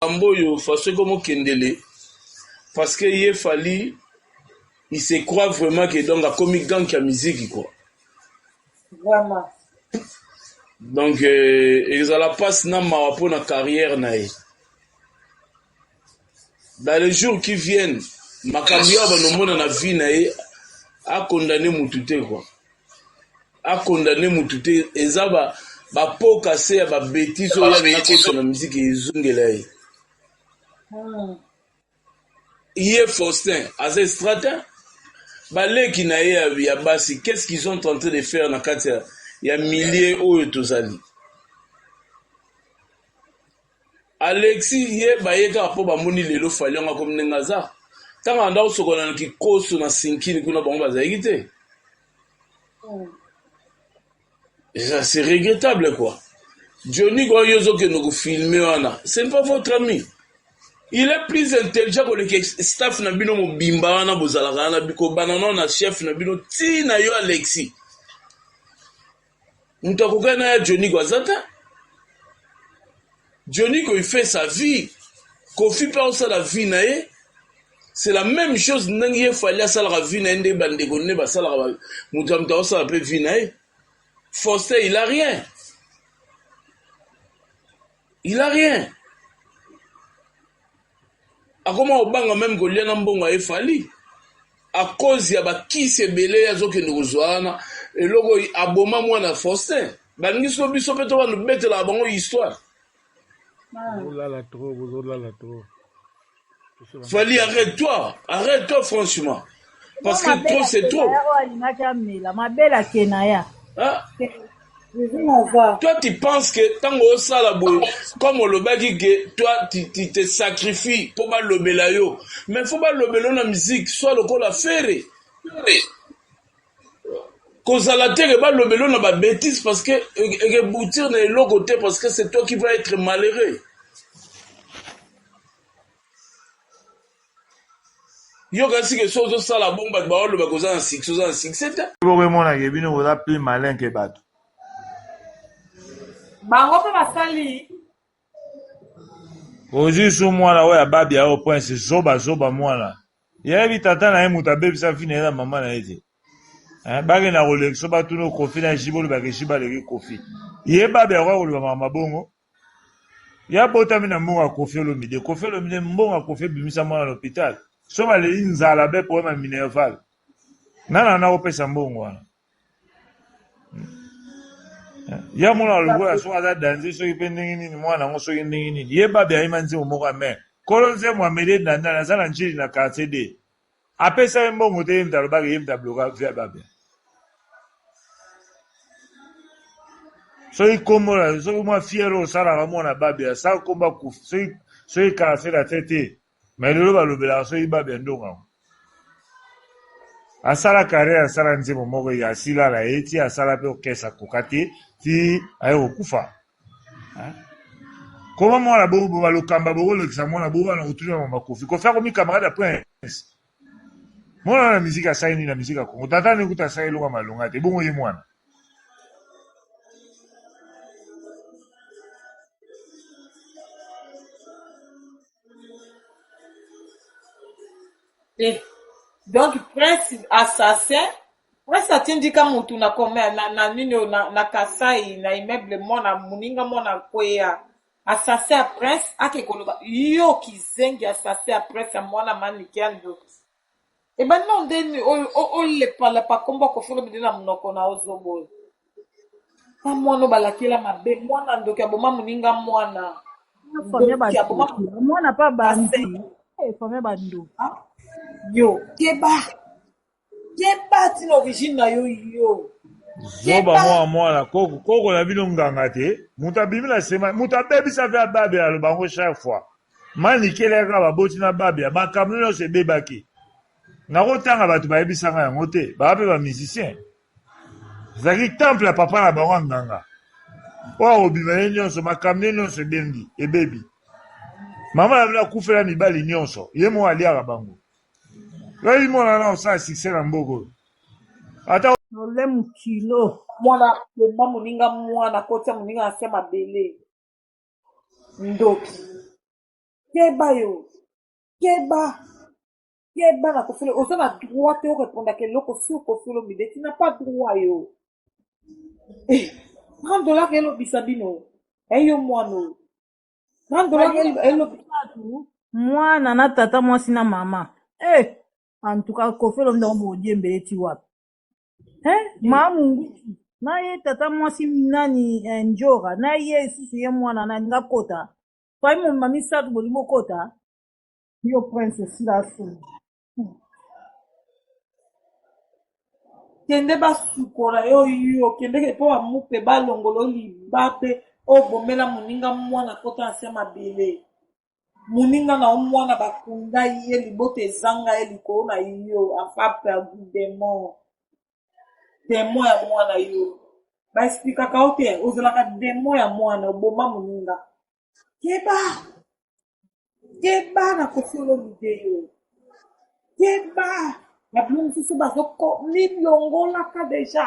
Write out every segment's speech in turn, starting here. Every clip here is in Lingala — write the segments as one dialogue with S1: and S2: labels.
S1: Makambo oyo façon ekomo kendele parce que ye Fally il se croit vraiment que donc akomi gank ya miziki quoi.
S2: Vraiment.
S1: Donc euh, ezala passe na mawa mpo na carrière na ye. Dans les jours qui viennent makambo ya banomona na vie na ye akondane mutu te quoi. a condamne mutu te eza ba ba pot casse ya ba betise oyo alinga kosa na miziki ezongela ye hmm. ye Faustin aza estratin baleki na ye ya basi qu'est-ce qu'ils ont en train de faire na kati ya milieu oyo tozali Alexi ye baye kaka po bamoni lelo fally yango akomi ndenge aza tango abanda kosokola na kikoso na sinkini kuna bango bazalaki te eza c'est regrettable quoi Johnny kwa yo ozokende kofilme wana c'est pas votre ami il est plus intelligent koleka staff na bino mobimba wana bozalaka wana bikobana nao na chef na bino ti na yo alexi Moto akokani na ya Joniko aza te. Joniko il fait sa vie. Kofi pe osala vie na ye. C'est la même chose ndenge ye fali asalaka vie na ye nde bandeko nde basalaka moto ya moto akosala pe vie na ye. Faustin il a rien. il a rien akoma kobanga meme kolia na mbongo ya efali a cause ya bakisi ebele azokende kozwa wana eloko aboma mwana faustin balingi so biso mpe tobana betelaka bango histoire
S3: bozolala trop bozolala trop
S1: Fally arrête toi, arrête toi franchement. Parce que trop c'est trop.
S2: Hein?
S1: Toi tu penses que tango osala boye comme olobaki que toi tu, tu te sacrifies po balobela yo mais faut balobela yo na musique soit lokola fere. Fere. Kozala te que balobelo na ba betise parce que ekeboutir na eloko te parce que c'est toi qui va etre malheureux. Yo kasi que so ozo sala bon bato baoloba koza na succès oza na succès te. Boko emona ke bino
S3: boza plus malin que bato.
S2: Bango pe basali
S3: Ozui su mwana oyo ya babia oyo prince zoba zoba mwana. Yebi tata na ye moto abebisa vie na ye na mama na ye te. Hein, bakenda kolekisa batuna Koffi na Jibo olobaka Jibo aleki Koffi. Ye babia akoya koloba makambo ma bongo? Ye abotami na mbongo ya Koffi Olomide. Koffi Olomide mbongo ya Koffi ebimisa mwana na hopital. Soki baleli nzala be problème ya minerval. Nani akenda kopesa mbongo wana? ya mwana lokola soki aza danze soki mpe ndenge nini mwana yango soki ndenge nini ye babi ayima nzembo moko ya mai kolo nzembo amede ndandala aza na njili na quartier d apesa ye mbongo te ye mta alobaka ye mta bloka via babi soki kombo na soki mwa fiere osalaka mwana babi asa kombo akufi soki soki quartier na te te Mais lelo balobelaka soki Babia Ndongo yango asala carrière asala nzembo moko ya silala ye ti asala pe orchestre akoka te ti aye kokufa hein? koma mwana bongo boba lokamba bokolekisa mwana bongo wana kotuna mama kofi kofi akomi camarade ya prince mwana wana miziki asali nini na miziki ya kongo tata nde kuta asali eloko ya malonga te bongo ye mwana
S2: Eh, donc prince assassin prince atindika mutu na kome na, na nini oyo, na, na kasai na immeuble mwana moninga mwana kweya assassin ya prince ake koloba yo kizengi assassin ya prince ya mwana manike ya ndoki Ebandi nao nde nini oyo o- olepalapa kombo ya kofi olomide na monoko na yo zobo oyo na mwana oyo balakela mabe mwana ndoki aboma moninga mwana Famille ndoki aboma bandoki.
S4: Amwana pa bandi. Eh, famille bandoki. Ah, yo
S2: keba keba ntina origine na yo yo zoba Keba.
S3: mwa mwana koko koko na bino nganga te moto abimi na sema moto abebisa mpe ababe aloba yango chaque fois Manicke leka kaka baboti na babia makambu nionso ebebaki nako tanga batu bayebisa nga yango te baza pe ba musicien ezalaki temple ya papa na bango ya nganga oyo akobima ye nionso makambu ne nionso ebembi ebebi mama na bino akufela mibali nionso ye moko aliaka bango yoyi mwana na osala succès na mboka oyo ata problème
S4: kilo mwana bomba
S2: moninga mwana kotia moninga na se mabele ndoki keba yo keba keba na kofele oza na droit te orepondaka eloko sur kofele omide ti na pas droit yo eh, 30 dollar elobisa bino eyo eh, mwana oyo 30 dollar elobisa
S4: mwana na tata mwasi na mama eh, en tout cas kofele omide omodiembele ti wapi eh, maa mungutu na ye tata mwasi nani eh, njora na ye lisusu ye mwana nani nga kota fai momema misato bolingi bokota yo prince osila asoni
S2: kende basukola yo yo kende mpo bamupe balongolo libabe oyo bomela moninga mwana kota na se mabele Muninga na yo muana ba kunda ye libota ezanga ye likolo na yo afa perdu demon demon ya muana yo ba explikaka yo te ozalaka demon ya muana oboma muninga keba keba na kofi olomide yo keba na bino mosusu bazoko milongolaka deja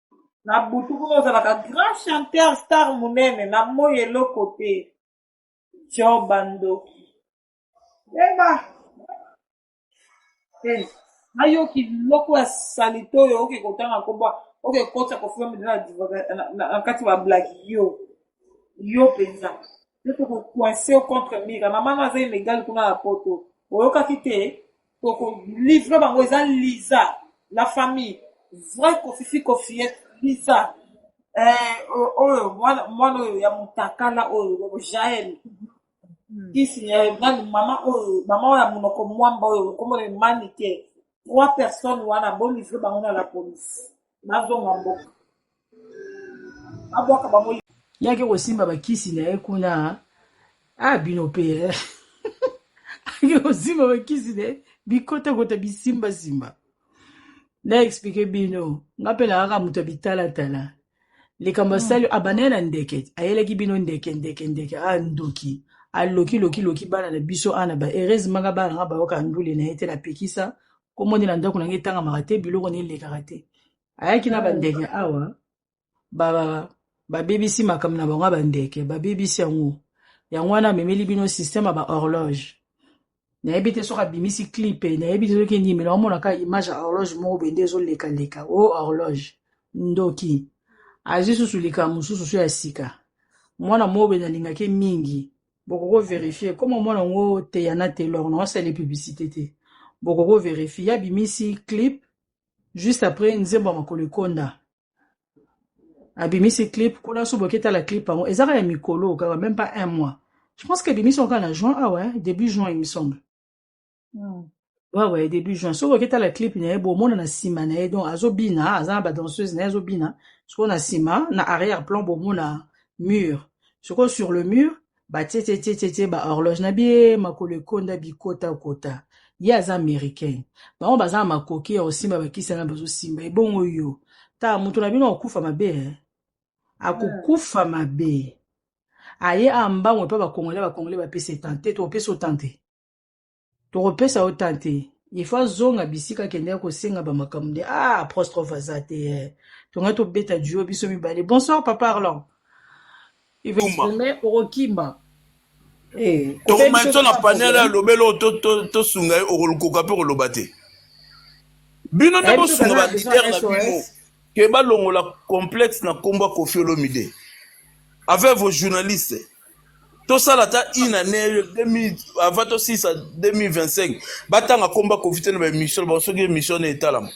S2: na butu moko ozalaka grand chanteur star monene na moi eloko te job bandoki eba eh, nayoki biloko ya salite oyo oke kotanga koba oke kotya kofilme na kati bablaki yo yo mpenza Yo toko coince yo contre mira. Maman no aza illégal kuna na poto. Oyokaki te? Toko livre bango eza Lisa. La famille. Vrai kofifi kofiyette Lisa. Eh, o- oyo mwana mwana oyo ya mutakala oyo Jael. Kisi ya nani mama oyo mama oyo ya munoko mwamba oyo kombo na ye Manike. Trois personnes wana bo livre bango na la police. bazonga mboka babwaka bango yaki kosimba
S5: bakisi na ye kuna a ah, bino mpe eh. ake kosimba bakisi na ye bikotakota bisimbasimba na explike bino nga mpe nakaka moto ya bitalatala likambo asali hmm. abandaki na ndeke ayelaki bino ndeke ndeke ndeke a ah, ndoki aloki loki loki bana na biso ana ba heureusement nga bana nga bayoka ndule na ye te napekisa kombo nde na ndako na ngai etangamaka te biloko nde elekaka te ayaki na bandeke awa ba- ba- babebisi makambo na bango ya bandeke babebisi yango yango wana amemeli bino systeme ya bahorloge nayebi te soki abimisi clipe nayebi te soki nini mena omona kaka image ya horloge moko bende ezolekaleka o horloge ndoki azwi susu likambo mosusu so ya sika mwana mobende alingaki mingi bokoko verifier comme omona ngo teyana telor na wasali publicité te bokoko verifier ya bimisi clip juste après nzembo ya makolo ekonda abimisi clip kuna so boketala clip yango ezaka ya mikolo kaka même pas un mois je pense que ebimisi yango kaka na juin awa ah début juin il me semble Hmm. wawa ye début juin soki oketala clip na ye bomona na nsima na ye donc azobina aza na badanseuse na ye azobina sikoyo na nsima na arrière plan bomona mur sikoyo sur le mur batietietietietie ba horloge na bie makolo ekonda bikotakota ye aza américain bango baza na makoki ya kosimba bakisi yana bazosimba ebongo yo ta moto na bino akokufa mabe eh? Hmm. akokufa mabe aye awa mbango epa bakongole bakongole bapesa etante topesa otante tokopesa yo temps te il faut azonga bisika akendaki kosenga bamakambo nde ah apostrophe aza te eh. tongai tobeta duo biso mibale bonsoir papa arlan iveome okokima eh, tokoma
S1: biso na panel ya lobela oyo tosunga ye okolukoka mpe okoloba te bino nde eh, bosunga balider na bino ke balongola complexe na nkombo ya kofi olomide avec vos journalistes tosala ata une année 2000 avant tosilisa 2025 batanga komba kofi te na baémission bango soki émission na etalama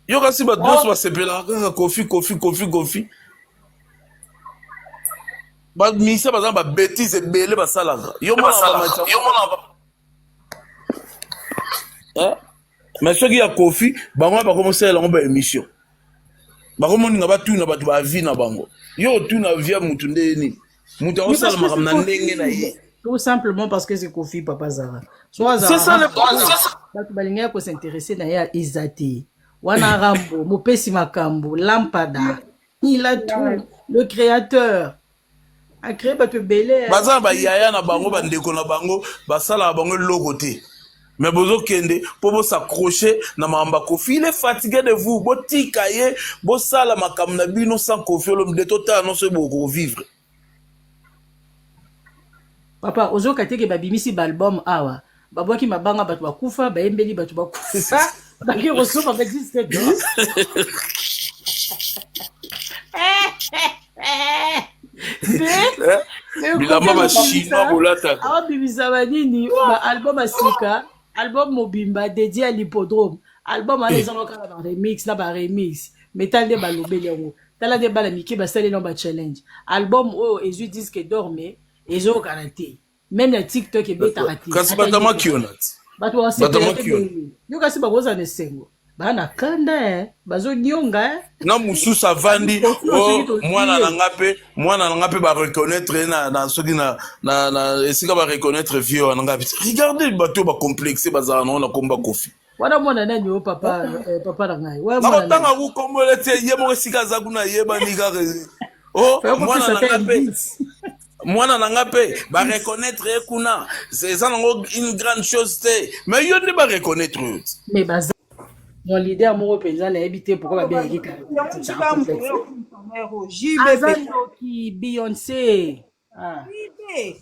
S1: yo kasi bato nyonso basepelaka kaka kofi kofi kofi kofi baminisa baza na babétise ebele basalaka yo mona mais soki ya kofi bango wana bakoma osalela yango ba émission bakomoninga batuna bato ba vie na bango yo otuna vie ya motu nde ye nini moto akosala makambo na ndenge na ye tout simplement parce
S5: que c'est kofi papa zara so azala
S1: bato balingaki
S5: kosinteresse na ye eza te wana rambo mopesi makambo lampada il a tout le créateur baza na bayaya na
S1: bango bandeko na bango basalaka bango eloko te mais bozokende mpo bosaccroche na makambo ya kofi il est fatigue de vous botika ye bosala makambo na bino sans kofi olombi de totala nyonso ye bokovivre
S5: papa ozoka teke babimisi baalbum awa babwaki mabanga bato bakufa bayembeli bato bakufa bake kosopa badiske bilamba
S1: bashima bolataka abimisa banini
S5: baalbum ya sika album mobimba dedie ya lipodrome album wana ezanga kaka baremix na baremix metal nde balobeli yango tala nde bana mike basaleli yango bachallenge album oyo ezwi diske dor me ezokana te meme na tiktok ebetaka te kasi batamaki yo
S1: nati bato batamaki
S5: yo yo kasi bakozala na esengo baa na kanda eh. bazonyonga eh. na mosusu
S1: avandi oh, mwana na nga mpe mwana na nga mpe bareconnaitre ye na soki na esika bareconnaitre vie wana nga regardez bato oyo bacomplexe bazala nango na komba kofi wana mwana nani yo
S5: papa eh, papa na ngai nakotanga ku kombo
S1: lete ye moko esika aza kuna yebani kaka o mwana na ngai mpe mwana na ngai mpe bareconnaitre ye kuna eza nango une grande chose te mais yo nde bareconnaitre yo mais baza
S5: mon leader moko mpenza nayebi te pourkoi babengaki kaka aza ndoki beyonce Ah. Prive.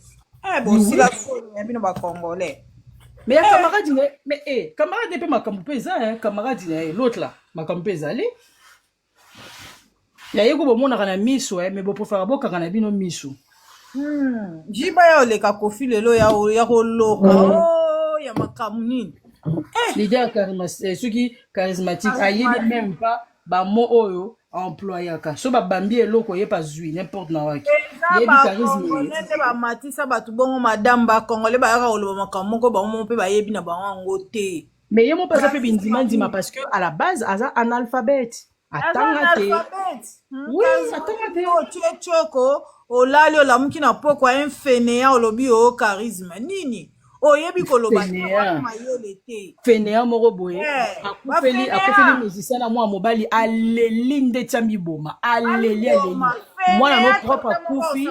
S5: Eh, bon, Oui, si oui. la solo, ya bino ba Congolais. Mais ya camarade na ye- mais eh, camarade na ye mpe makambo mpe eza hein, camarade na ye l'autre là makambo mpe ezali ya ye ko bomonaka na miso eh, mais boprefera bokanga na bino miso Hmm.
S4: Jiba ya oleka kofi lelo ya o- ya koloka. Oh, ya makambo nini? leader
S5: charisma- eh, soki charismatique ayebi Charismatique. même pas ba mots oyo employaka so babambi eloko ye pazwi n'importe na waki yebi charisme nde bamatisa
S4: bato bongo madame bakongole bayaka koloba makambo moko bango moko mpe bayebi na bango yango te me ye moko aza mpe
S5: bindimandima parce que à la base aza analphabète atanga te oui atanga te otiecoko
S4: olali olamuki na pokwa infeneya olobi o oh, charisme nini oyebi koloba mayele te
S5: fenea moko boye eh, akufeli akufeli musicien na mwana mobali aleli ndeti amiboma aleli aleli mwana no propre akufi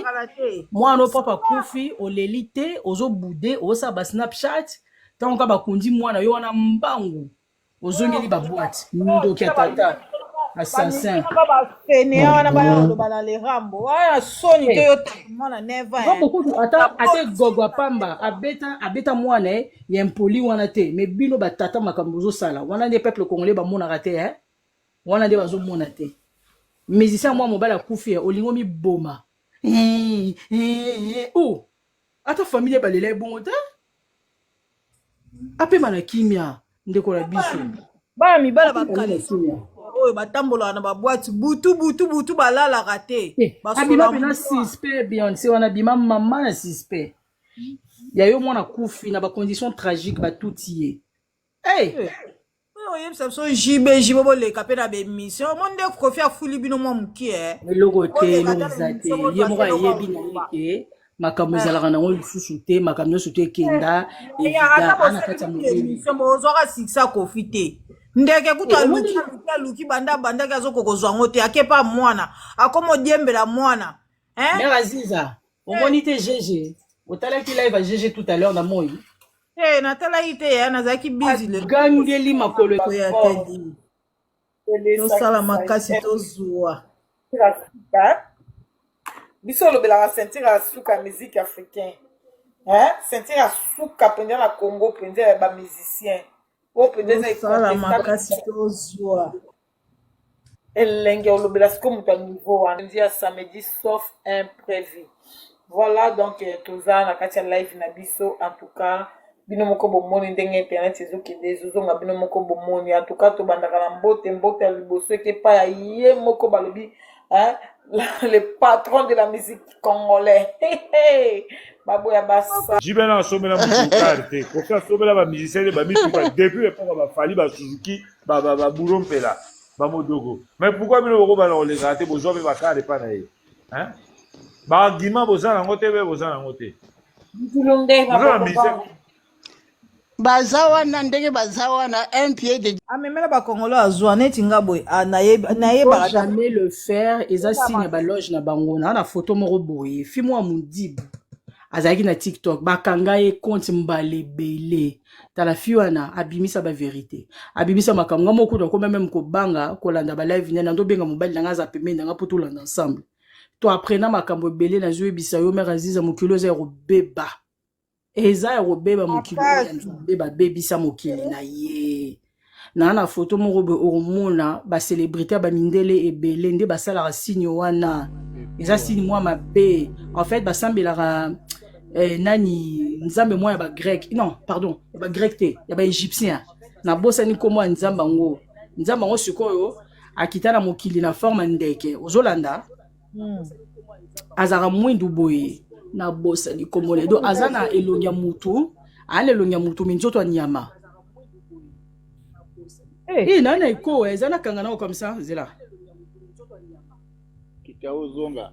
S5: mwana no propre akufi oleli te ozobude osala basnapchat ntango ka bakundi mwana yo wana mbangu ozongeli ba boîte ndoki ya tata assassin bafenea
S4: wana baya koloba na le rambo wana soni te yo mwana neva rambo kutu ata ate
S5: gogo apamba abeta abeta mwana ye ya impoli wana te me bino batata makambo ozosala wana nde peuple congolais bamonaka te eh? wana nde bazomona te musicien mwa mobali akufi olingi omiboma o ata famille balela ye bongo te apema na kimia ndeko na biso bana mibala
S4: bakalisi oyo batambolaka na babwati butu butu butu balalaka te eh, abima mpena
S5: suspect beyonce wana abima mama na suspect ya yo mwana kufi na bacondition tragique batuti ye Hey! Oyo oyebisa
S4: biso JB JB boleka mpe na bemission omoni nde kofi afuli bino mwa moke eh. eloko te Boleka
S5: eloko ata na eza te emission ye moko bozwa ayebi na ye eloko ke makambo Eh. ezalaka nango lisusu te makambo nyonso to ekenda Eya, ata evida ana kati ya bosali mokili emission bozwaka sikisa
S4: kofi te ndeke kutu Eh, omoni- aluki aluki aluki banda abandaki azokoka kozwa yango te akepa mwana akoma odiembela mwana Eh? mère aziza
S5: omoni te gege otalaki live ya gege tout à l'heure na moi hey, eh, natalaki
S4: te ya nazalaki bizigangeli makolo
S5: ya tedi
S4: tosala makasi tozwa
S2: biso olobelaka sentire ya suka ya musique africain sentire ya suka mpenza na congo mpenza ya bamusicien oyo mpenza
S4: eza makasi tozwa
S2: Elengi olobela siko moto ya niveau wana ndi ya samedi sauf imprévu. Voilà donc euh, toza na kati ya live na biso en tout cas bino moko bomoni ndenge internet ezokende ezozonga bino moko bomoni en tout cas tobandaka na mbote mbote ya liboso eke epai ya ye moko balobi hein, le patron de la musique congolais baboya basa jibe na asombela moto
S3: karte kofi asombela bamusicien nde bamituka depuis epoka bafali basuzuki ba ba ba bouro mpela ba modogo mais pourquoi bino bokobana kolekaka te bozwa mpe bakare epa na ye hein baargument boza nango te mpe boza nango te
S2: boza na mise
S6: baza wana ndenge baza wana un pied de amemela bakongolo
S4: azwa neti nga boye ah, naye- nayebaka
S5: ta- jamais
S4: le
S5: faire eza signe ya baloge na bango naa na foto moko boye fimo ya modibu azalaki na tiktok bakanga ye compte mbala ebele tala fi wana abimisa ba verite abimisa makambo nga moko kutu akoma meme kobanga kolanda ba live nene andobenga mobali na nga aza pembeni na nga mpo tolanda ensemble to apres na makambo ebele nazoyebisa yo mare aziza mokili oza ya kobeba eza ya kobeba mokili oyo ya nzambe babebisa mokili na ye na na foto moko boye okomona bacelebrité ya bamindele ebele nde basalaka signe wana eza signe mwa mabe en fait basambelaka eh, nani nzambe mwa ya bagrec non pardon ya bagrec te ya baegyptien nabosani nkombo ya nzambe yango nzambe yango sikoyo akita na mokili na forme ya ndeke ozolanda hmm. azalaka mwindu boye na bosa likombo na edo aza na elongi ya mutu aa na elongi ya mutu mi nzoto ya nyama eh. eh, na na eko eh, eza na kanga nao comme ça zela
S7: kitao zonga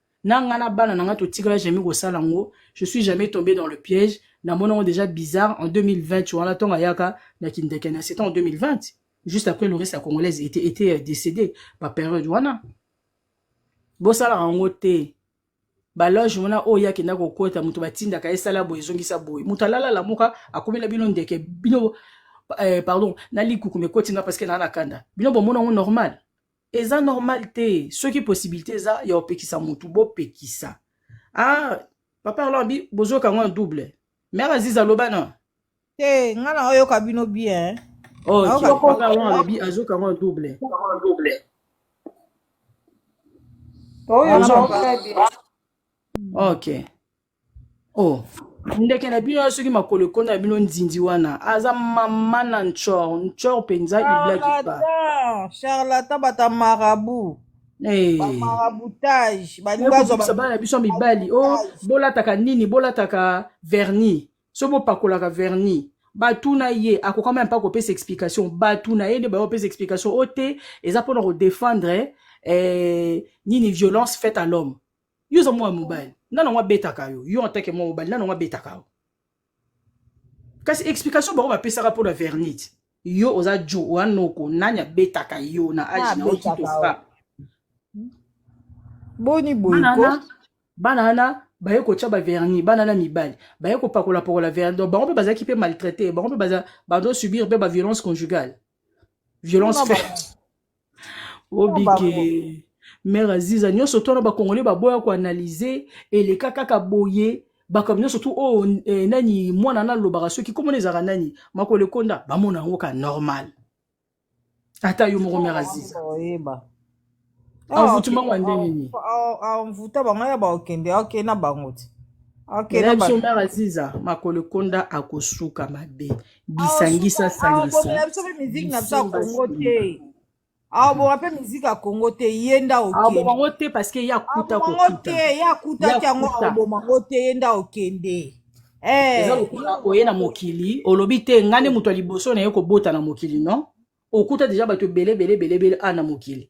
S5: na nga na bana na nga totikala jamais kosala yango je suis jamais tombé dans le piège namona yango déjà bizarre en 2020 wana ntongo ayaka na kindeke na c'était en 2020 juste après le reste ya congolaise était, était décédé baperiode wana bosalaka yango te baloge wana oyo ye akenda kokota moto batindaka ye sala boye ezongisa boye moto alalala moka akomela bino ndeke bino eh, pardon na likuku mekoti nga parceke naa na kanda bino bomona yango normal eza normal te soki possibilité eza ya opekisa mutu bopekisa ah papa alors bi bozoka ngo double mère aziza aloba na te eh, nga
S4: na oyoka bino bien oh kioko
S5: papa wana alobi azoka ngo double ok Oh, ndeke na bino soki makolo ekoni na bino nzinzi wana aza mama na nchor nchor mpenza iblaki pa charlatan charlatan
S4: bata marabu Eh,
S5: bamarabutage
S4: balingi baye bazwa kobikisa bana na
S5: biso ya mibali o bamarabutage bolataka nini bolataka vernis so bopakolaka vernis batuna ye akokama ya mpe akopesa explication batuna ye nde baye kopesa explication o te eza mpona kodefendre eh, nini violence faite à l'homme yo oza mwana mobali nani yango abetaka yo yo antake mwana mobali nani yango abetaka yo kasi explication bango bapesaka mpo na vernite yo oza jo oya noko nani abetaka yo na age na okito frappe
S4: boni boyko bana wana
S5: baye kotya baverni bana na mibali baye kopakolapakola verni donc bango mpe bazalaki mpe maltraité bango mpe bazo subir mpe baviolence conjugale violence faite obike mère aziza nyonso to na bakongole baboya koanalyse eleka kaka boye bakambo nyonso tu oyo oh, eh, nani mwana nalobaka soki komona ezalaka nani makolo ekonda bamona yango ka normal ata yo moko mère aziza envoutema ah, ngo ndenge nini envouta ah, ah,
S4: bango ya bakende akende na bango te biso
S5: mère aziza makolo ekonda akosuka mabe bisangisa awa sangisa bobela biso mpe miziki na
S4: biso ya bisimba kongo te simba awa boma mpe miziki ya kongo te ye nda akoboma okende yango te parce que
S5: ye akuta aboma yango kokuta te ye akutaki yango
S4: yakuta akoboma yango te ye nda okende eza Eh,
S5: lokola yo oye na mama mokili olobi te ngai nde moto ya liboso na ye kobota na mokili non okuta deja bato ebele ebele ebele ebele a na mokili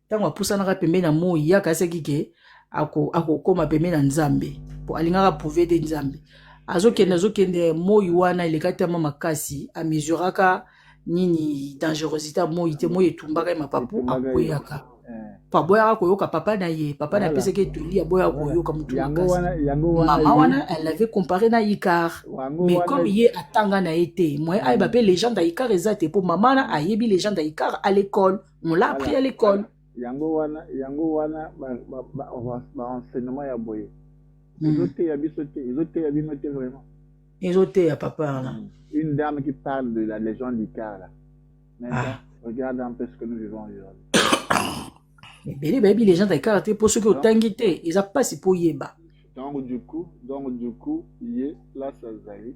S5: ntango apusanaka pembeni ya moi ye akanisaki ke akokoma pembeni ya nzambe mpo alingaka prouve te nzambe azokende azokende moi wana eleka tama makasi amesuraka nini dangerosité ya moi te moi etumbaka ye mapapu akweyaka eh. po aboyaka koyoka papa na ye papa na apesaki etoli aboyaka koyoka motu mama wana elle avait comparé na icar mais comme ye atanga na ye te moyen ayeba mpe legende ya icar eza te mpo mama wana ayebi legende ya icar à l'école on l'a appris à l'école yango wana
S7: yango wana baenseignement ya boye hmm. ezoteya biso te ezoteya bino te vraiment ezoteya
S5: papa wana hmm. une dame qui
S7: parle de la légende du car là ah. regarde un peu ce que nous vivons aujourd'hui ebele bayebi légende
S5: ya car te mpo soki otangi te eza mpasi mpo oyeba donc du
S7: coup donc du coup ye place azali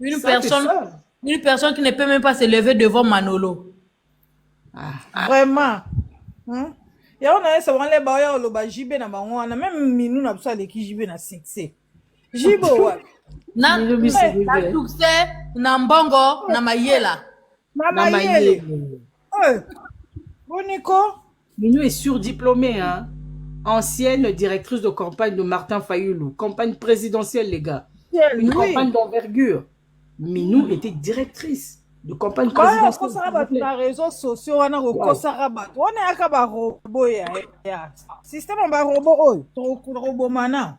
S5: Une
S8: personne, une personne qui ne peut même pas se lever devant Manolo. Ah, ah. Vraiment.
S4: Hein? yango na yesa wana leba oya oloba jb na bango wana meme minu na biso aleki jb na succès jb owa na
S8: succès na mbongo na mayela na na mayele
S4: mayele Eh, boniko Minou est
S5: surdiplômée, hein. Ancienne directrice de campagne de Martin Fayoulou. Campagne présidentielle, les gars. Une oui campagne d'envergure. Minou était directrice de campagne oyo présidentielle. okosaka s'il vous bato plaît. na réseau
S4: sociaux wana kokosaka bato wana yaka barobo ya ya systeme ya barobo oyo tokobomana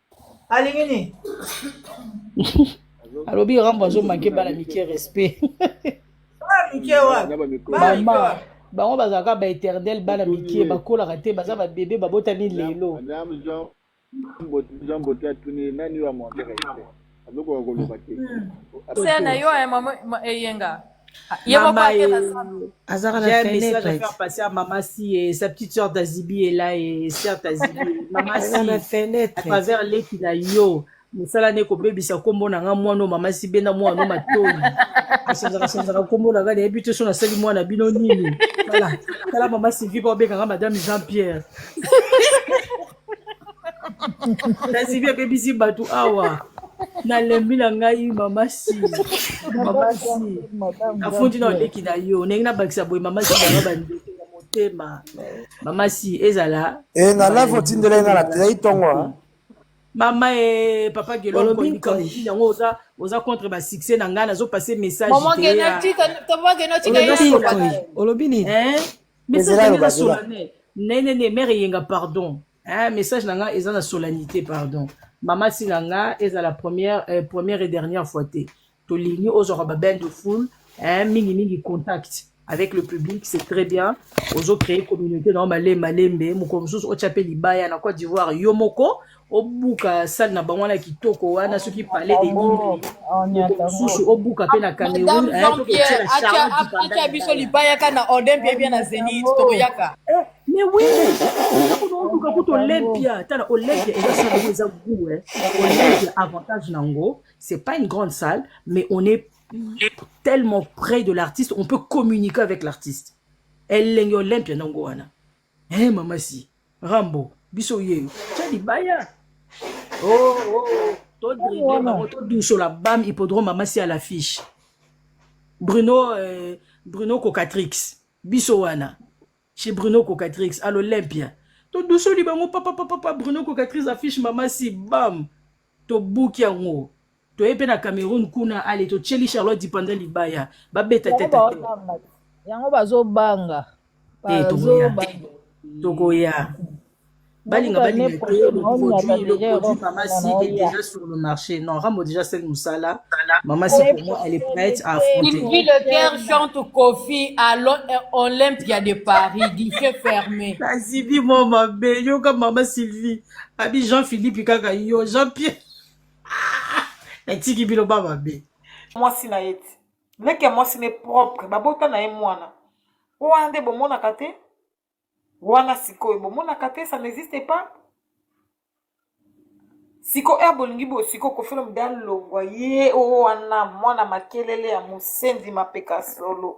S8: alingi nini
S5: alobi rambo azomake bana mike respect
S8: mama bango bazalaka
S5: baéternel bana mikie bakolaka te baza babebe babotami lelo
S7: na yo
S9: ya mama eyenga ye moko akela zando azaka na
S5: fenêtre passer à maman si et sa petite sœur d'Azibi est là et sœur d'Azibi maman si na fenêtre à travers leki na yo mosala nde kobebisa nkombo na nga mwana mama si benda mwana no matoi asenzaka senzaka nkombo na nga nayebi te so nasali mwana bino nini tala tala mama sylvie baobenganga madame jean pierre kasi bia bebisi bato awa nalembi na ngai mama si mama si nafundi na oleki na yo ndenge nabakisa boye mama si banga bandeke ya motema mama si ezala enga eh, live otindela
S10: enga na tei ntongo ah. mama
S5: e papa gelolokoyibikalobi yango oza oza contre basuccès na ngai nazopase message
S9: olobi nini
S5: message na nga solane ne ne ne mère yenga pardon hein message na nga eza na solennité pardon mama si na nga eza la première euh, première et dernière fois te tolingi ozwaka ba bain de foule hein mingi mingi contact avec le public c'est très bien ozo créer communauté na yo malembe malembe mokolo mosusu otya mpe libaya na cote d'ivoire yo moko obuka sale na bango wana kitoko wana soki palais de nimosusu obuka mpe na cameroun atia
S9: biso libayaka na odem bie bie na zenit tokoyaka eh,
S5: mais oui kuna oluka kutu olympia tala olympia eza sale yango eza gout eh. olympia avantage na yango c'est pas une grande salle mais on est tellement près de l'artiste on peut communiquer avec l'artiste elenge olympia nango wana Eh mama si Rambo biso yeyo tya libaya oh, oh. todrible bango todusola bam hippodrome mama si à l'affiche Bruno euh, Bruno Cocatrix biso wana chez Bruno Cocatrix à l'Olympia todusoli bango papa papa Bruno Cocatrix affiche mama si bam tobuki yango toye mpe na cameroun kuna ale totyeli charlotte dipanda libaya babeta tete yango
S4: bazobanga eh, tokoya te
S5: tokoya balinga balinga te le produit le produit mama si est déjà sur le marché non rambo déjà sel mosala mama si pour moi elle est prête à affronter Sylvie Leclerc
S9: chante Kofi à l'Olympia de Paris guichet fermé Sylvie mon
S5: mabe yoka mama Sylvie abi jean philippe kaka yo jean pierre natiki bino ba mabe mwasi na ye
S2: ti leki ya mwasi ne propre babota na ye mwana wana nde bomonaka te wana sikoyo bomonaka te ça n'existe pas siko ere bolingi boyo siko kofelo mde alongwa ye oyo wana mwana makelele ya mosenzi mapeka solo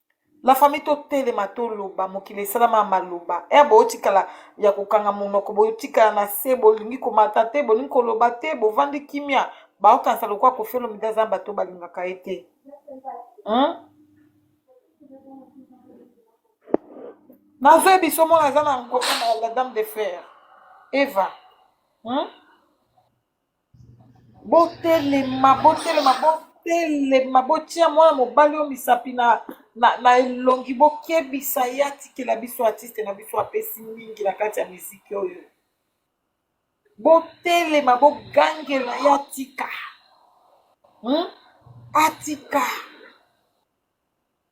S2: la famille totelema toloba mokili esalama ya maloba ere botikala ya kokanga monoko botikala na se bolingi komata te bolingi koloba te bovandi kimia baokanisa lokola kofelo mida aza bato balingaka ye te hmm? nazoye biso mona aza na ngoma na la dame de fer eva hmm? botelema botelema botelema botia mwana mobali oyo misapi na, na, na elongi bokebisa ye atikela biso artiste na biso apesi mingi na kati ya miziki oyo botelema bogangela ye atika hmm? atika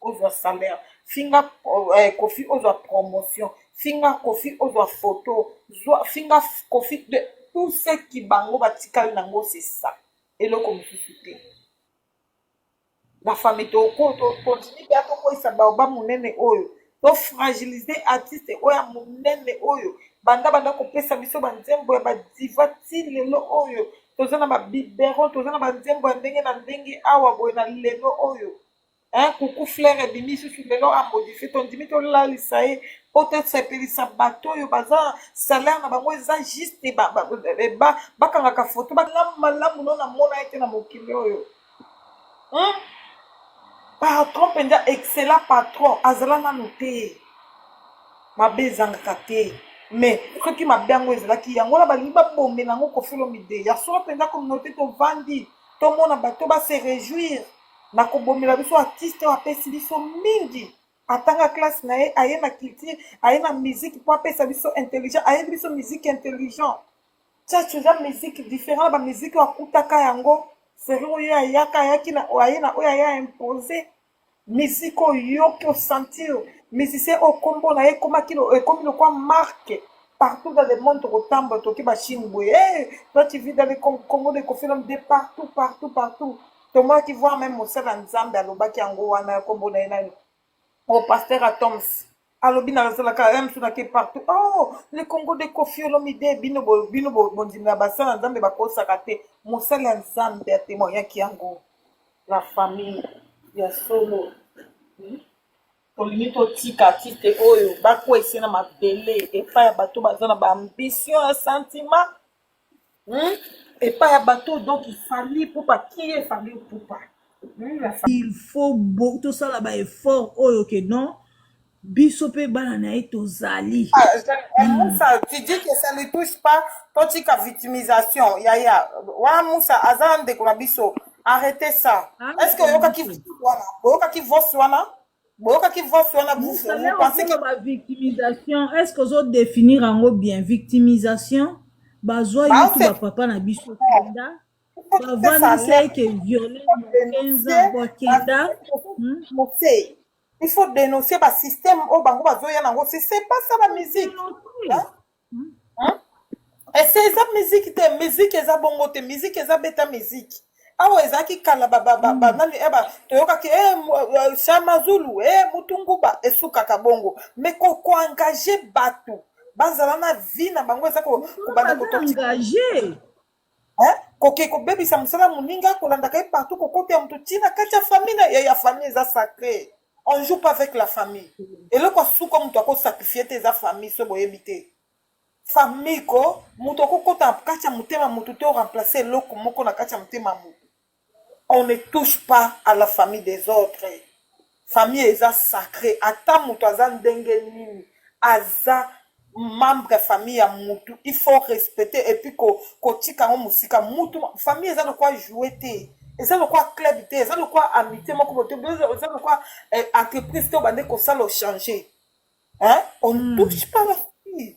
S2: ozwa salaire finga eh, kofi ozwa promotion finga kofi ozwa photo zwa finga kofi de tout ce qui bango batikali nango c'est ça eloko mosusu te bafami tokontinue mpe atokweyisa baoba monene oyo tofragilize artiste oyo ya monene oyo banda banda kopesa biso banzembo ya badiva ti lelo oyo toza na babibero toza na banzembo ya ndenge na ndenge awa boye na lelo oyo Hein, coucou flair ebimi susu lelo a modifie tondimi tolalisa ye mpo tosepelisa bato oyo baza salaire na bango eza juste bakangaka foto malamu malamu no namona ye te na mokili oyo hmm? patron mpenza excellent patron azala nano te mabe ezangaka te mais soki mabe yango ezalaki yango wana balingi babomela yango kofilomide ya solo mpenza communauté tovandi tomona bato base réjouire na kobomela biso artiste oyo apesi biso mingi atanga classe na ye aye na culture aye na musique mpo apesa biso intelligent ayebi biso musique intelligent church eza musique différent na bamusike oyo akutaka yango seri oyo ayaka ayaki na aye na oyo aya impose musique oyo yoki osentir musicien oyo nkombo na ye ekomaki ekomi lokwa marke partout dans le monde tokotambola toki bachine boye hey, eh, toi tu vis dans le congo de kofinam de partout partout partout tomaki voir meme mosali ya nzambe alobaki yango wana ya kombo na ye nani o oh, paster atoms alobi nazalaka ya mosu nake partout oh le congo de kofiolomide bino bino bondimi ya basali ya nzambe bakosaka te mosali ya nzambe atemoyaki yango la famille ya solo hmm? tolingi totika artiste oyo bakwesi na mabele epai ya bato baza na baambition ya sentiment epai ya bato donc ifali pupa kie efali pupa il
S4: faut tosala ba effort oyo ke non biso mpe bana na ye tozali ah, eh, musa
S2: tu dis que ça ne touche pas totika victimisation yaya wana musa aza ndeko na biso arrete ça ah, est ce que oyokaki wana oyokaki voice wana boyokaki voice wana vous vous Mukala pensez que okoloba victimisation
S4: est ce que ozo definir yango bien victimisation bazwa ye tu baofe bapapa na biso kenda bavandisa ye ke viole na 15 ans bwa kenda hmm?
S2: conseil il faut dénoncer ba système oyo bango bazoya nango c'est c'est pas ça la musique Dénoncer. hein? Hein? ese eh, eza miziki te miziki eza bongo te miziki eza beta miziki awa ah ezalaki kala banani hmm. eh, toyokaki eh, shama zulu e mutunguba esukaka bongo me kokoengage bato bazala na vie na bango eza kobanda kotoengage
S4: Hein?
S2: koke kobebisa mosala ya moninga kolandaka ye partout kokota ya moto ti na kati ya famille na ye ya famille eza sacré on joue pas avec la famille eloko ya suka moto akosakrifie te eza famille so boyebi te famille ko moto akokota na kati ya motema ya moto te oremplace eloko moko na kati ya motema ya moto On ne touche pas à la famille des autres famille eza sacre ata mutu aza ndenge nini aza membre ya famille ya mutu il faut respecter et puis ko kotika yango musika mutu famille eza lokwa jouer te eza lokwa club te eza lokwa amitié moko bote eza lokwa eh, entreprise to bande kosala changer hein on mm. touche pas la famille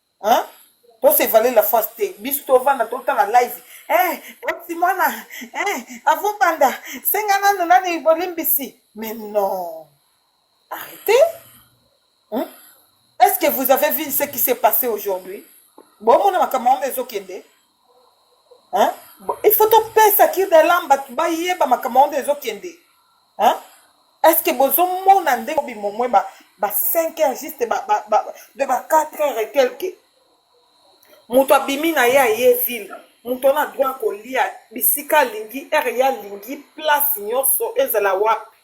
S2: Hein? Pour se valer la face te. Biso to vanda to tala live. Eh, oti mwana. Eh, avu banda. Senga nanu nani bolimbisi. Mais non. Arrêtez. Hein? Est-ce que vous avez vu ce qui s'est passé aujourd'hui? Bon, mon makambo ezo kende. Hein? Bon, il faut topesa kirdalam bato bayeba makambo yango nde ezokende Hein? est ce que bozomona ndenge obimomwe ba, ba 5 heures juste ba, ba, ba, de ba 4 heures et quelque moto abimi na ye aye ville moto wana droit kolia bisika alingi heure ye alingi place nyonso ezala wapi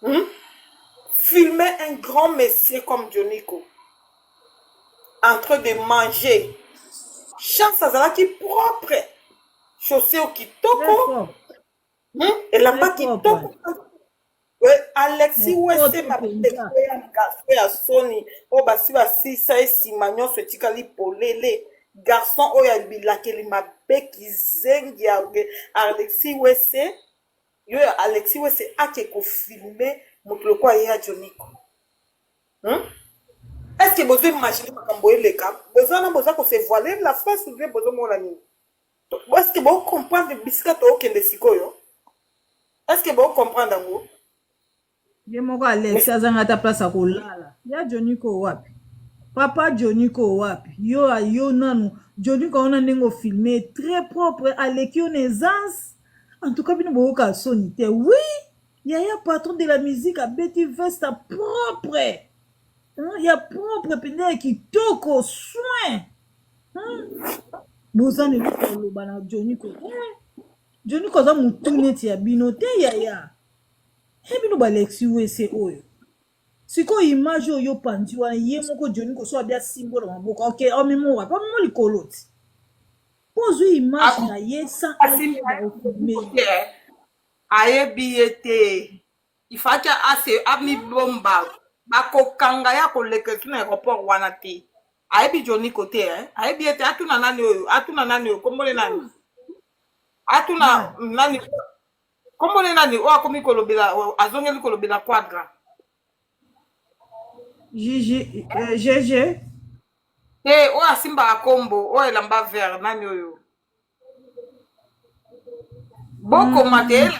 S2: hmm? filme un grand monsieur comme dioniko en train de manger chance azalaki propre chaussure Très kitoko propre. hmm? elamba Très propre. kitoko Eh, alexi Mais wese propre penza. mapekito ya garso ya soni oyo basi basisa ye nsima nyonso etikali polele garçon oyo ya bilakeli mabe kizengi ya ge- alexi wese yo ya alexi wese ake kofilme moto lokola ye ya joniko Hum? Est-ce que bozo imaginer makambo eleka? Bozo wana boza ko se voiler la face ou bien bozo mona nini? To- Est-ce que bo comprendre bisika to okende sikoyo? Est-ce que bo comprendre yango?
S4: ye moko alex Mais azanga ata place ya kolala ya joniko wapi papa joniko wapi yo yo nanu joniko aona ndenge ofilme très propre aleki yo na essence en tout cas bino boyoka soni te oui yaya patron de la musique abeti veste propre hmm? ya propre mpenza ya kitoko soin hmm? boza na eloko oloba na joni ko eh, joni ko aza motu neti ya bino te yaya e bino balexi wese oyo sikoyo image oyo opanzi wana ye moko joni koso abi asimbo na maboko oke omemo wapi omemo likolo ti mpo ozwi image na ye sans asimba okimeli
S2: ayebi ye te il fallait ase amibomba bakokanga ye akoleka kino aéroport wana te ayebi joni kote eh? ayebi ye te atuna nani oyo atuna nani oyo kombole nani atuna nani kombole nani oyo akomi kolobela azongeli kolobela quadra
S4: Gigi, euh, GG,
S2: te oyo asimbaka kombo oyo elamba vert nani oyo bokoma te hmm.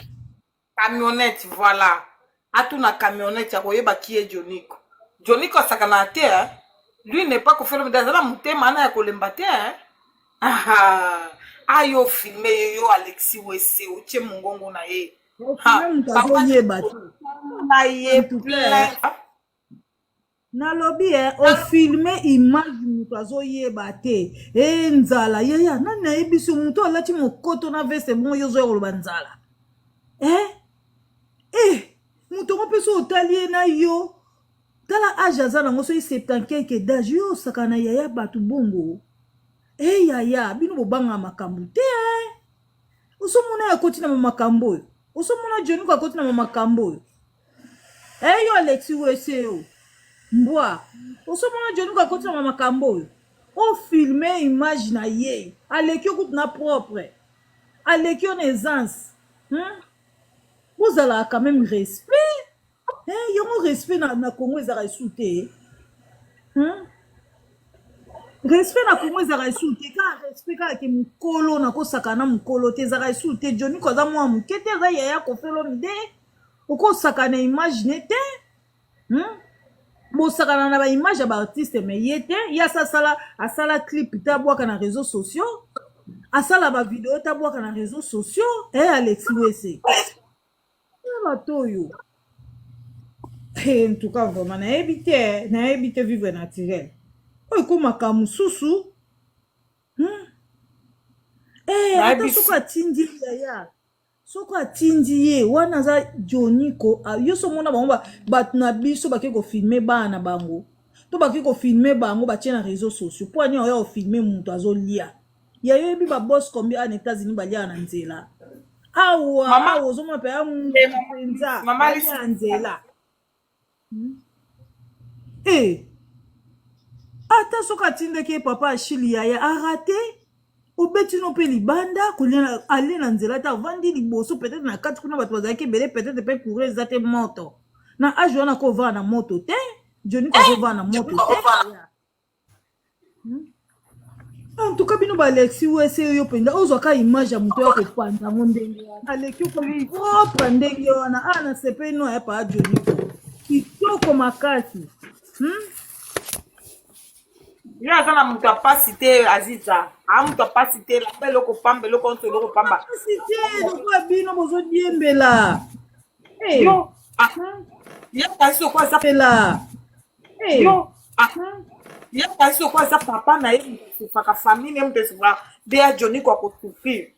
S2: camionnette voilà atuna camionnette ya koyeba kie joniko joniko asakanaka te eh? lui n'est pas kofelomide aza na motema ana ya kolemba te eh? ayo filme ye yo alexi wese otie mongongo na ye
S4: na ye
S2: plein
S4: Nalobi eh o filme image mutu azo yeba te eh nzala yaya nani ayebisi mutu alati mokoto na veste bongo yo ozoya koloba nzala eh eh mutu yango mpe so otali ye na yo tala age aza nango soki septankeke dage yo osaka na yaya bato bongo eh yaya bino bobanga makambo te eh. osomona ye akoti na makambo oyo osomona joniko akoti na makambo oyo Eh yo Alexi wese yo. Mbwa. Osomona Johnny ko akotisa ma makambo oyo. O filme image na ye. Aleki okutu na propre. Aleki yo na essence. Hmm? Bozalaka quand même respect. Eh yango respect na, na Congo ezalaka esu te. Hmm? respect na kongo ezalaka esu te kaka respect kaka ke mokolo nakosaka na mokolo te ezalaka esu te joniko aza mwa moke te aza yaya kofelo mide okosaka na image ne te hmm? bosakana na baimage ya baartiste me ye te ye asa asala asala clip te abwaka na réseau sociaux asala bavideo te abwaka na réseau sociaux e eh, alexi wese eh, bato oyo en tout cas vraiment nayebi te nayebi te vivre naturel oyo ekomaka mosusu hmm? eh, ata soki atindi yaya soko atindi ye wana aza joniko yo so omona bango bato na biso bake kofilme bana na bango to bake kofilme bango batie na réseau sociaux mpo ani oya kofilme moto azolia ya yo yebi babos combien ana états-unis baliaka na nzela awa awa ozomona mpe ya moto mpenza ya nzela Hey, eh! ata soki atindaki ye papa ashili yaya arate obeti no mpe libanda alie na nzela te avandi liboso peut-être na kati kuna bato bazalaki ebele peut-être mpe courant eza te moto na age wana kovaa na moto te joni kozovaa na moto te en tout cas bino balexi wese yo mpenza ozwaka image ya moto ya kopanza yango ndenge wana aleki okomi propre ndenge wana a na sepeli no ya paa joni kitoko makasi
S2: hmm? ye aza na moto ya mpasi te aziza aa moto ya mpasi te lamba eloko pamba eloko nyonso eloko pamba mpasi te lokola
S4: bino bozodiembela
S2: yo ye kasi okola aza pela
S4: Hey. Yo,
S2: ah, ye kasi oko aza papa na ye moto esufaka famille ye moto esufaka bea joniko akosufrir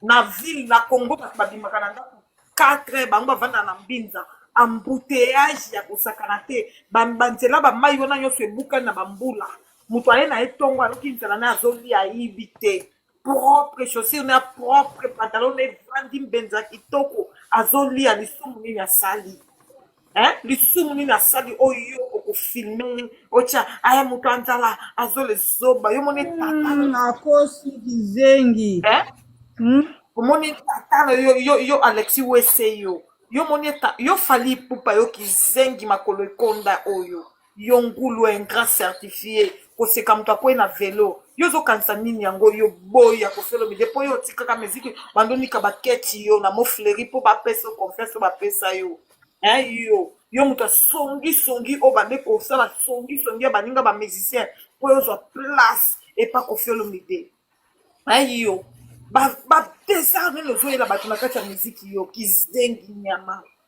S2: na ville na congo bato babimaka na ndako 4 bango bavanda na mbinza embouteillage ya kosakana te Ba- banzela bamai wana nyonso ebukani na bambula moto aye na ye ntongo aloki nzela na ye azolia ayibi te propre chaussure na propre pantalon na evandi mbenza kitoko azolia lisumu nini asali hein? lisumu nini asali oyo okofilme otya aya moto ya nzala azole zoba yo moni tata nakosi
S4: kizengi hein? Hmm?
S2: omoni tata na yo, yo, yo alexi wese yo yo moni eta yo fali ipupa yo kizengi makolo ekonda oyo yo ngulu ingrat certifie koseka moto akwei na velo yo ozokanisa nini yango yo boyi ya kosolobide mpo yo otikaka miziki bandonika baketi yo na mofleri mpo bapesa yo confiance oyo bapesa yo eh, yo yo moto asongisongi oyo bande kosala songisongi ya baninga bamusicien mpo yo ozwa place epa kofiolomide eh, yo bapesa nini ozoyela bato na kati ya miziki yo kizengi nyama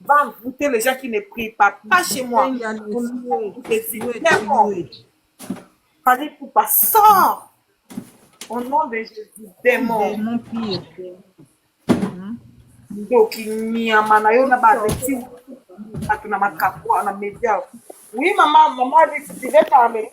S2: va envoûter les gens qui ne prient pas. Pas chez moi. Fallait pour pas sort. Au nom de Jésus, démon. Démon pire. ndoki nyama na yo na bareti bato na makapo na media oui mama mama alexi tu veux parler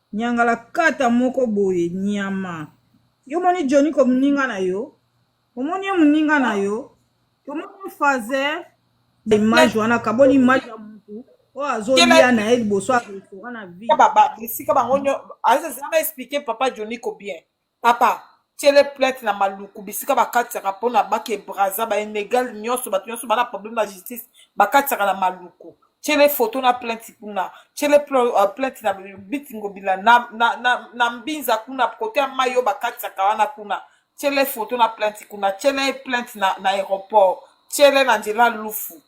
S4: Nyangalakata moko boye nyama. Yo moni Johnny ko muninga na yo? Omoni ye muninga na yo? Omoni fazer image wana kaboli image ya mutu oyo azolia na ye liboso ya restaurant na vie. Esika bango
S2: nyo azanga expliquer papa Johnny ko bien. papa tiele plainte na maluku bisika bakatisaka mpona bake braza bainegale nyonso bato nyonso bana problème na justice bakatisaka na maluku tiele foto na plainte kuna tiele euh, plainte na bitingobila na, na, na, na mbinza kuna kote ya mai oyo bakatisaka wana kuna tiele foto na plainte kuna tiele plainte na, na aéroport tiele na nzela lufu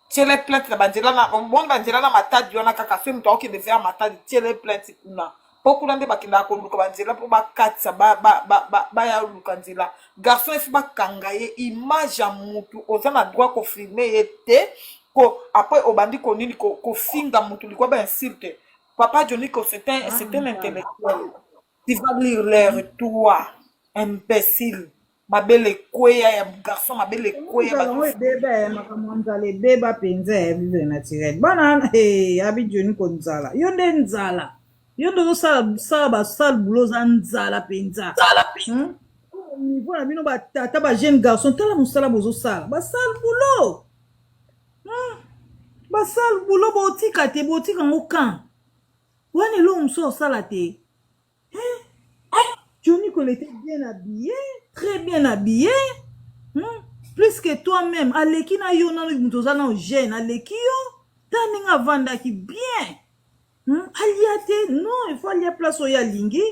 S2: tiele plainte na banzela na omoni banzela na matadi wana kaka soki moto akokende vers matadi tiele plainte kuna mpo kuna nde bakendaka koluka banzela mpo bakatisa baya ba, ba, ba, ba luka nzela garçon esi bakanga ye image ya motu oza na droit kofilme ye te ko apres obandi konini kofinga ko motu likwa bainsulte papa johniko c'est un, un intellectuel Tu vas lire l'heure, toi, imbécile. mabele ekweya ya garçon mabele ekweya ba- yango ebeba ya makambo
S4: ya nzala ebeba mpenza ya vivre naturel bana wana eh, abi joni ko nzala yo nde nzala yo nde ozosala sala basale bulo oza nzala mpenza Hmm? niveau na bino batata ba jeune garçon tala mosala bozosala basale bulo Hmm? basale bulo botika te botika yango kan Wana eloko mosusu osala te. Hein? Johnny Kolo était bien habillé, très bien habillé. Hmm? Plus que toi-même, aleki na yo nanu moto oza nanu jeune, aleki yo. Ta ndenge avandaki bien. Hmm? Alia te, non, il faut alia place oyo alingi.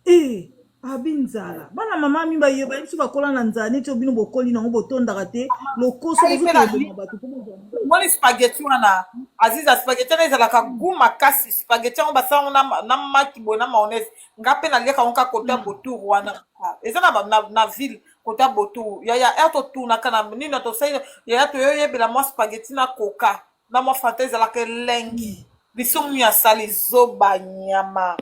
S4: Eeh abi nzala bana mama mi baye bayebi so bakola na nzala neti oyo bino bokoli nango botondaka te lokoso Ngai pe na bozokende boma bato mpo bozwa mbongo. moni spaghetti
S2: wana aziza spaghetti wana ezalaka gout makasi spaghetti yango basala yango na, ma- na maki boye na mayonnaise nga mpe naliaka yango kaka kota botour wana Ah, eza na, ba- na, na ville kota botour yaya ya totunaka na nini ya tosali yaya toyoyebela mwa spaghetti na coca na mwa fanta ezalaka elengi biso munu ya sali zoba nyama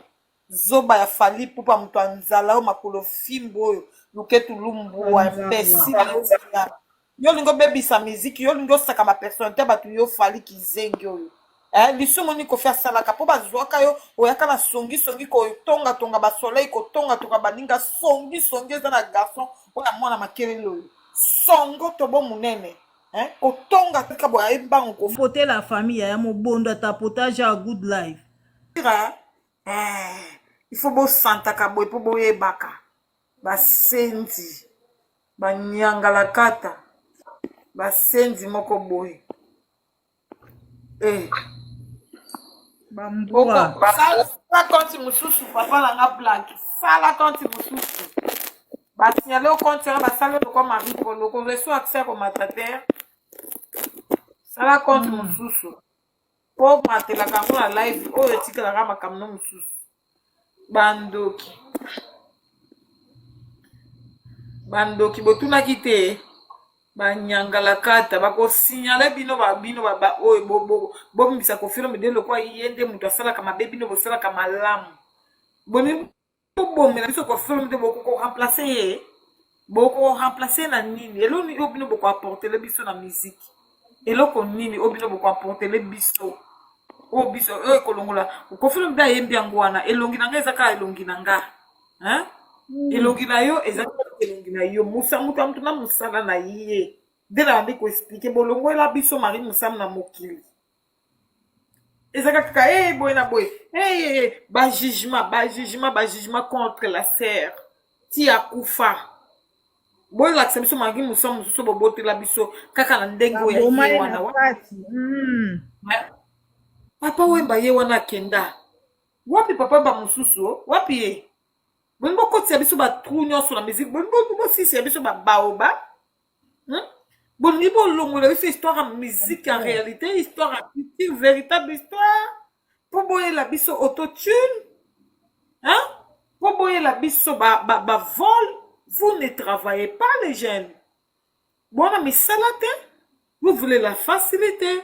S2: Zoba ya fally ipupa moto ya nzala oyo makolo fimbu oyo luketu lumbua imbecile yo zoba yo olingi obebisa miziki yo olingi osaka ba personnalite ya bato yo fally kizengi oyo eh, lisumu nini kofi asalaka mpo bazuaka yo oyaka na songi songi kotonga tonga ba soleil kotonga tonga baninga songi songi eza na garçon oyo ya mwana makelele oyo songo tobo monene eh, kotonga tika boye ayebi bango kofi potela famille ya
S4: mobondo ata potage ya good life Tira, eh,
S2: il faut bosantaka boye mpo boyebaka basenzi banyangalakata basenzi moko boye eh.
S4: bambua sala konti
S2: mosusu papa na nga blage sala konti mosusu basignale o konti wana basali lokwa marie polo koreso accès komata te sala konti mosusu po matelaka yango na live oyo etikalaka makambo no mosusu bandoki bandoki botunaki te banyangalakata bakosignale bino babino baoyo bobimisa kofilome de lokwa ye nde moto asalaka mabe bino bosalaka malamu bobomela biso kofi olomide bokoko remplace ye bokoko remplace ye na nini elo nini oyo bino boko apportele biso na miziki eloko nini oyo bino boko apportele biso oyo biso oyo ekolongola kofi olomide ayembi yango wana elongi na nga eza kaka elongi na nga hein? Mm. elongi na yo eza elongi na yo musa moto ya moto na mosala na ye nde nayandi koexplike bolongwela biso mari mosamu na mokili ezalaka kaka hey, boye na boye hey, bajugement bajugement bajugement contre la serre ti akufa bolakisa biso mangi mosa mosusu bobotela biso kaka na ndenge oyo ye wana hmm. papa wemba ye wana akenda wapi papa ba mosusu wapi ye bolingi bokotisa biso batrou nyonso na miziki bolingi bosisi ya biso babaoba hmm? bolingi bolongola biso histoire ya musique ya réalité histoire ya culture véritable histoire mpo boyela biso autotune hein? mpo boyela biso bavole ba, ba vol. vous ne travaillez pas les jeunes bona misala te vous voulez la facilité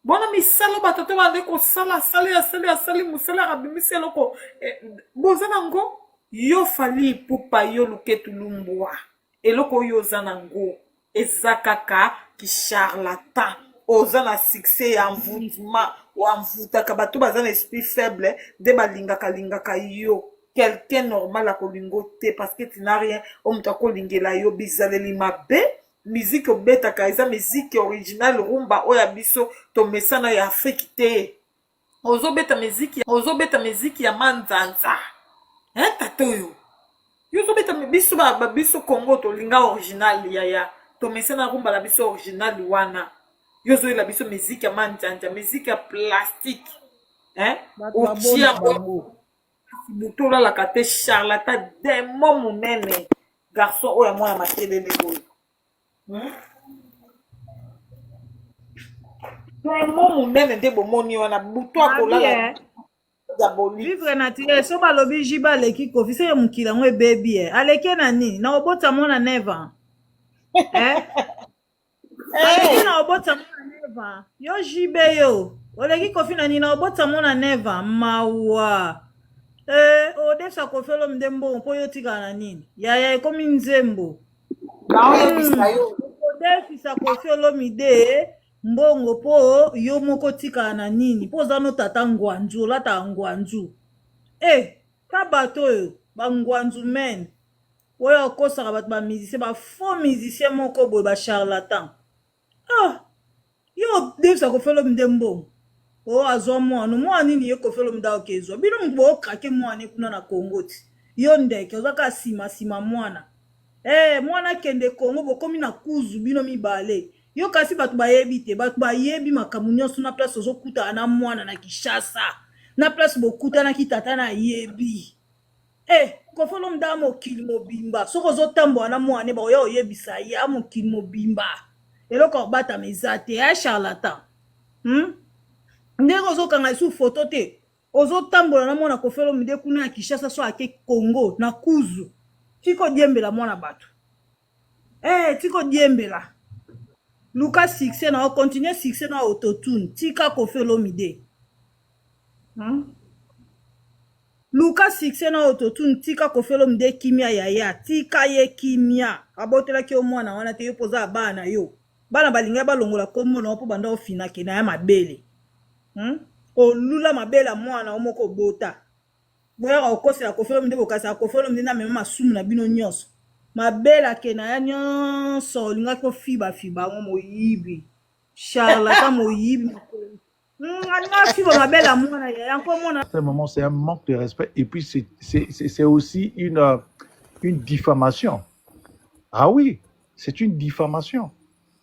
S2: bona misala batata bande kosala asali asali asali mosala abimisi eloko eh, boza nango yo fali ipupa yo luketu lumbwa eloko oyo oza nango eza kaka kisharlatan oza na succès ya envoutment envoutaka bato baza na esprit faible nde balingaka lingaka yo quelqu'un normal akolingo te parce que tu n'as rien oyo moto akolingela yo bizaleli mabe miziki obetaka eza miziki original rumba oyo ya biso tomesana ya afrike te ozobeta miziki ozobeta miziki ya manzanza eh, tata oyo yo ozobeta biso biso congo tolinga original yaya tomesana rumba na biso original wana yo ozoyela biso miziki ya manzanza miziki ya plastike eh? otia butu olalaka te charlata demo monene garçon oyo amwana makelele oyo hmm? demo monene nde bomoni wana butu akolala vivre naturel so
S4: balobi jiba aleki kofi seke mokili yango ebebi e aleki na nini na kobota mwana neva eh? Aleki na obota mwana neva. Yo JB yo. Oleki kofi na nina obota mwana neva. Mawa. Eh, odefisa kofi olom nde mbongo mpo yo otikala na nini? Yaya ekomi nzembo. naoyebisa yo Odefisa kofi olomide mbongo mpo yo moko otikala na nini? Mpo oza no tata ngwanzu, olataka ngwanzu. Eh, ta bato oyo, ba ngwanzu men. oyo akosaka bato ba musicien ba faux musicien moko boye ba charlatan ah yo davis akofelo mde mbongo o oh, azwa mwano mwana nini ye kofelo mde aoke ezwa bino moto bookrake mwana kuna na congo ti yo ndeke oza kaka nsima nsima mwana ee eh, mwana akende congo bokomi na kuzu bino mibale yo kasi bato bayebi te bato bayebi makambo nyonso na place ozokutana na mwana na kishasa na place bokutanaki tata na yebi Eh, Koffi Olomide a mokili mobimba soki ozotambola na mwana ne bakoya oyebisa ye a mokili mobimba eloko ya kobatama eza te ya charlatan hmm? ndenge ozokanga lisusu foto te ozotambola na mwana Koffi Olomide kuna ya Kinshasa so ake Congo na kuzu tika odiembela mwana bato Eh tika odiembela. Luka succès na yo, continue succès na autotune. Tika Koffi Olomide. Hmm? Luka succès na autotune, tika Koffi Olomide kimia yaya, tika ye kimia. Abotelaki yo mwana wana te yo poza ya bana na yo. Bana balinga balongola kombo na yo po banda ofina ke na ya mabele. Hmm? Olula mabele ya mwana yo moko obota. boyaka kokosela kofi olomide bokanisaka kofi olomide na mema masumu na bino nyonso mabela ke na ya nyonso olingaki ofiba fiba yango moyibi charlata moyibi afiba mabela mwana yaya nkomona ce moment c'est un manque
S11: de respect et puis c'est aussi une euh, une diffamation ah oui c'est une diffamation